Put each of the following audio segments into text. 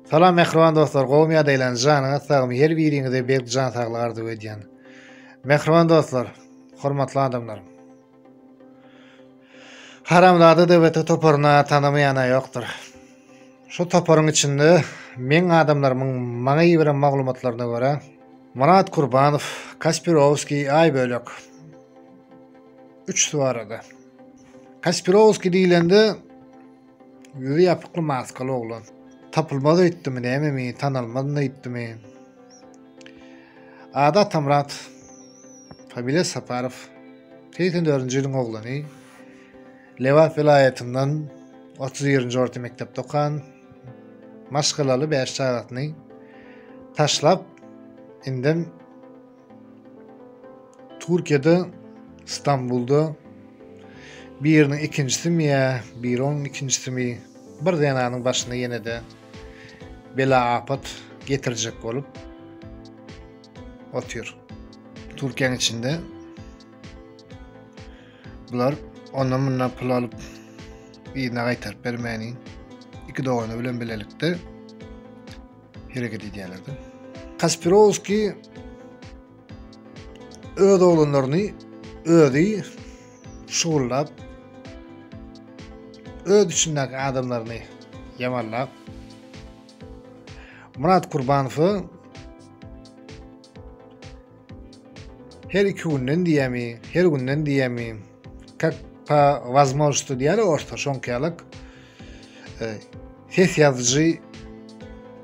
Salam mähriban dostlar, gowymy ýa deýlen, janyňyz sagmy, her biriňize berk jan saglygy arzuw edýän. Mähriban dostlar, hormatly adamlar. Haramzada DBT toparyna tanamaýana ýokdur. Şu toparyň içinde meň adamlarymyň maňa ýiberen maglumatlaryna görä, Murat Kurbanow, Kaspirowski, Aý bölek. Üç suwarada. Kaspirowski diýlende Ýüzi ýapykly maskaly oglan. Tapylmaz öýtdümi nämemi, tanalmaz nöýtdümi? Ady Atamyrat, familiýasy Saparow. Segsen dördünji ýylyň oglany. Lebap welaýatyndan otuz birinji orta mekdepde okan. Maşgalaly bäş çagasyny taşlap, indem Türkiýede Stambulda biriniň ikinjisimi ýa biri onuň ikinjisimi bir zenanyň başyna ýene-de bela-apat getirjek bolup otyr. Türkiýäň içinde bular ondan mundan pul alyp yzyna gaýtaryp bermäni iki dogany bilen bilelikde hereket edýärlerdi. Kaspirowski öz oglanlaryny özi şugullap öz içindäki adamlaryny ýamanlap Murat Kurbanowy Her iki günden diýämi, her günden diýämi, kak pa vazmolşty diýär orta şoňkaýalyk e, ses ýazyjy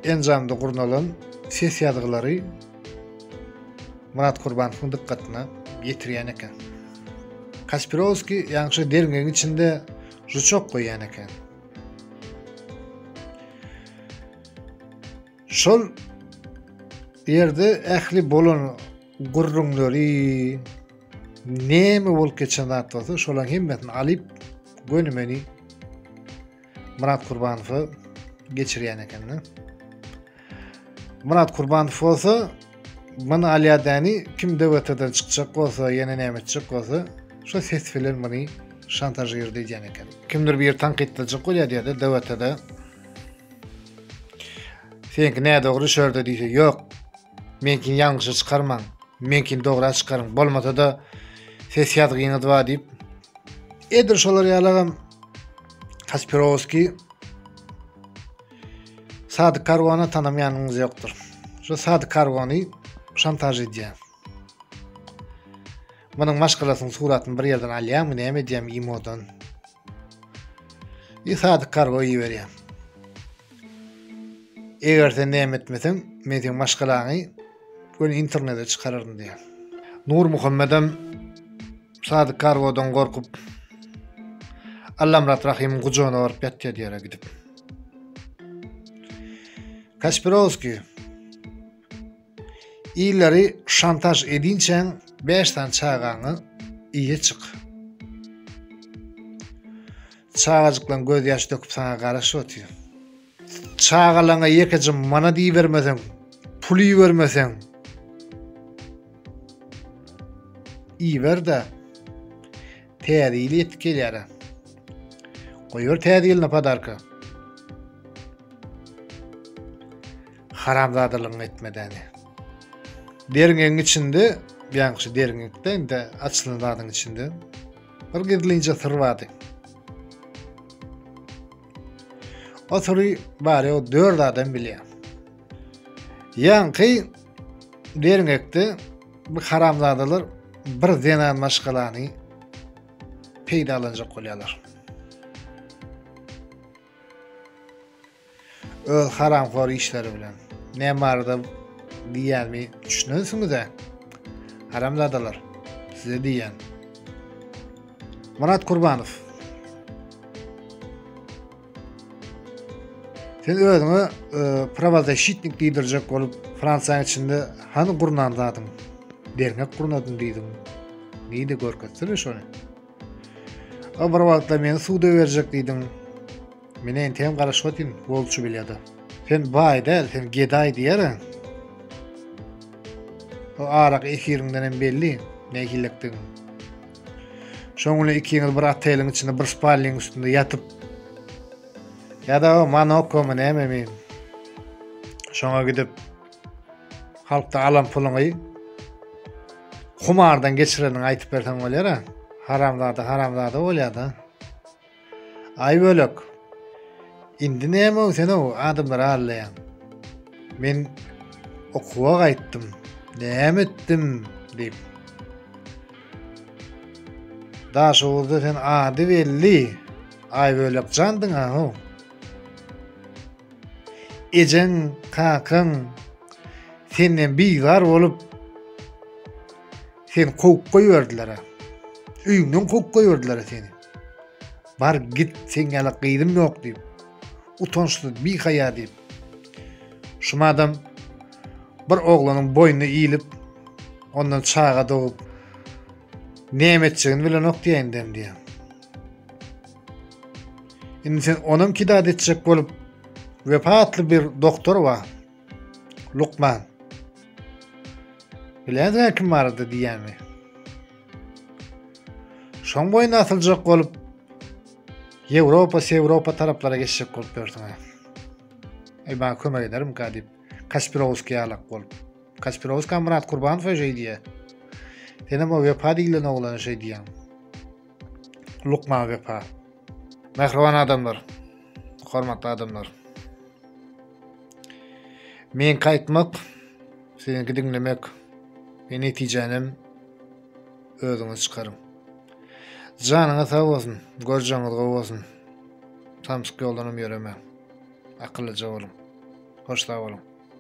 enjamda gurnalan ses ýazgylary Murat Kurbanowyň dykgatyna ýetirýän eken. Kaspirowski ýaňşy derňegiň içinde žuçok goýýan eken. Şol ýerde ähli bolan gürrüňleri näme bolup geçen zat bolsa şolaň hemmesini alyp göni meni Murat Kurbanowa geçirýän ekeni. Murat Kurbanow bolsa meni alýadany kim DWT-den çykjak bolsa, ýene näme etjek bolsa, şo ses bilen meni şantažir diýen ekeni. Kimdir bir tankytlajak bolýar diýýär-de DWT-de. Seňki ne dogry şörde diýse ýok. Meňkini ýalňyşa çykarmaň. Meňkini dogra çykaryň. Bolmasa da ses ýazgyňyz bar diýip. Edir şolar ýalagam Kaspirowski Sadyk Karwana tanamaýanyňyz ýokdur. Şu Sadyk Karwany şantaj edýär. Munuň maşgalasynyň suratyny bir ýerden alýarmy, näme edýärmi imodan? Ýe sadyk kargo iberýän. Eger sen näme etmeseň, men seň maşgalaňy göni internete çykararyn diýär. Nur Muhammedem sadyk kargodan gorkup Allamrat Rahimyň gujagyna baryp ýatýar diýere gidip. Kaspirovskiý Illeri şantaž edinçäň bäş sany çagaňy iýe çyk. Çagajyklaň gözýaş döküp saňa garaşyp otyr. Çagalaňa ýekeje manat ibermeseň, pul ibermeseň, iber-de, täze ýyl ýetip gelýär-ä. Goýber täze ýylyna podarka. haramzadalygyňy etmedäni. Derňegiň içinde, ýaňky şu derňekde indi açylan zadyň içinde bir gizlinje syr bardy. O syry bari o dört adam bilýär. Ýaňky derňekde bu haramzadalar bir zenan maşgalany peýdalanjak bolýarlar. Öz haramhor işleri bilen. Ne barada diýýänimi düşünensiňiz-ä. Haramzadalar, size diýýän. Murat Kurbanow. Sen özüňe e, prawozashitnik diýdirjek bolup Fransiýanyň içinde hany gurnan zadyň? Derňek gurnadym diýdim. Neydi görkezsene şony. O bir wagtlar meni suda berjek diýdim. Menä entegem garaşyp otyryn golçy bilýada. Sen baý däl, sen gedaý diýerin. O arak efiriňden hem belli, nähillikdigiň. Şoň bilen ikiňiz bir oteliň içinde bir spalniň üstünde ýatyp. Ýa-da o Manokomy näme men. Şoňa gidip halkda alan puluňy humardan geçireniňi aýtyp berseň bolýar-a. Haramzada, haramzada bolýar-da. Aý bölek. Indi näme ol sen o adamlary allaýaň. Men okuwa gaýtdym. Näme etdim diýip. Daşoguzda sen ady belli. Aý bölek jandyň ha ho. Ejeň, kakaň senden bizar bolup seni kowup goýberdiler-ä. Öýüňden kowup goýberdiler-ä seni. Bar git seň ýaly gyzym ýok diýip. Utançsyz bi haýa diýip. Şumadam bir oglanyň boýnuna iýlip ondan çaga dogup näme etjegini bilenok diýä indem diýä. Indi sen onam kidat etjek bolup wepa atly bir doktor bar. Lukman. Biläňizmi kim barada diýýämi? Şoň boýun asyljak bolup Ýewropa, Sewropa taraplara geçjek bolup ýörsiň. Eý, maňa kömek ederim ka diýip, Kaspirowski ýalak bolup. Kaspirowski Murat Kurbanowa şeý diýýär. Senem o wepa diýlen oglana şeý diýýäň. lukman wepa. Mähriban adamlar, hormatly adamlar. Meňki aýtmak, siziňki diňlemek we netijänem özüňiz çykaryň. Janyňyz sag bolsun, görjeňiz gowy bolsun. Samsyk ýoldanam ýöremäň. Akyllyja boluň. Hoş sag boluň.